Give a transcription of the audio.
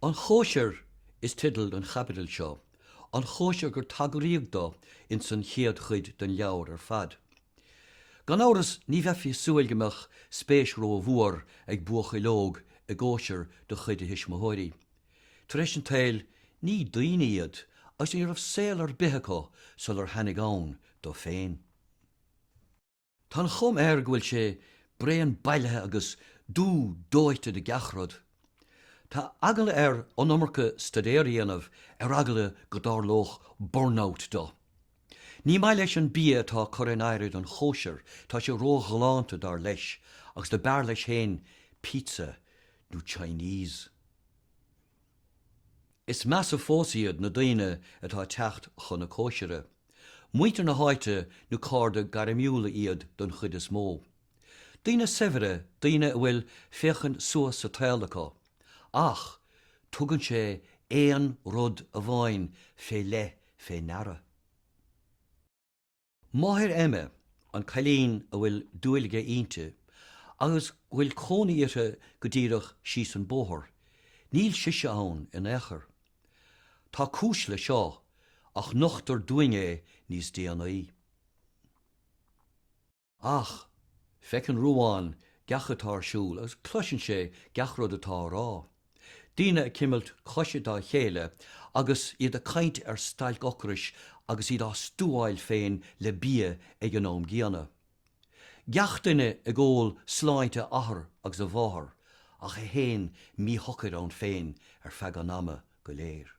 An Chóisir is teideal don chaibidil seo, an chóisir gur tagraíodh dó ins an chéad chuid den leabhar ar fad. Gan amhras ní bheifí ag súil go mbeadh spéis rómhór ag buachaill óg i gcóisir de chuid a thuismitheoirí, Tar éis an tsaoil, ní daoine iad agus ní raibh saol ar bith acu sular tháinig ann dó féin. Tá an chuma air go bhfuil sé bréan bailithe agus dubh dóite de gach rud. Tá eagla air an iomarca staidéar a dhéanamh ar eagla go dtarlódh burnout dó. Ní maith leis an bia atá á chur in áirithe don chóisir, tá sé róghalánta dar leis, agus do b'fhearr leis féin pizza nó Chinese. Is measa fós iad na daoine atá ag teacht chun na cóisire. Muintir na háite nó cairde gairmiúla iad den chuid is mó. Daoine saibhre, daoine a bhfuil féachaint suas sa tsaol acu. Ach tugann sé aon rud amháin fé leith fé ndeara. Máthair Emma, an cailín a bhfuil dúil aige inti agus go bhfuil cónaí uirthi go díreach síos an bóthar, níl sise ann in aon chor. Tá cúis le seo, ach nochtar dúinn é níos déanaí. Ach, feiceann Ruán gach a bhfuil ar siúl agus cloiseann sé gach rud atá á rá. Daoine ag cimilt coise dá chéile agus iad ag caint ar stailc ocrais agus iad á stuáil féin le bia ag an am gcéanna. Gach duine ag ól sláinte a athar agus a mháthar ach é féin míshocair ann féin ar feadh an ama go léir.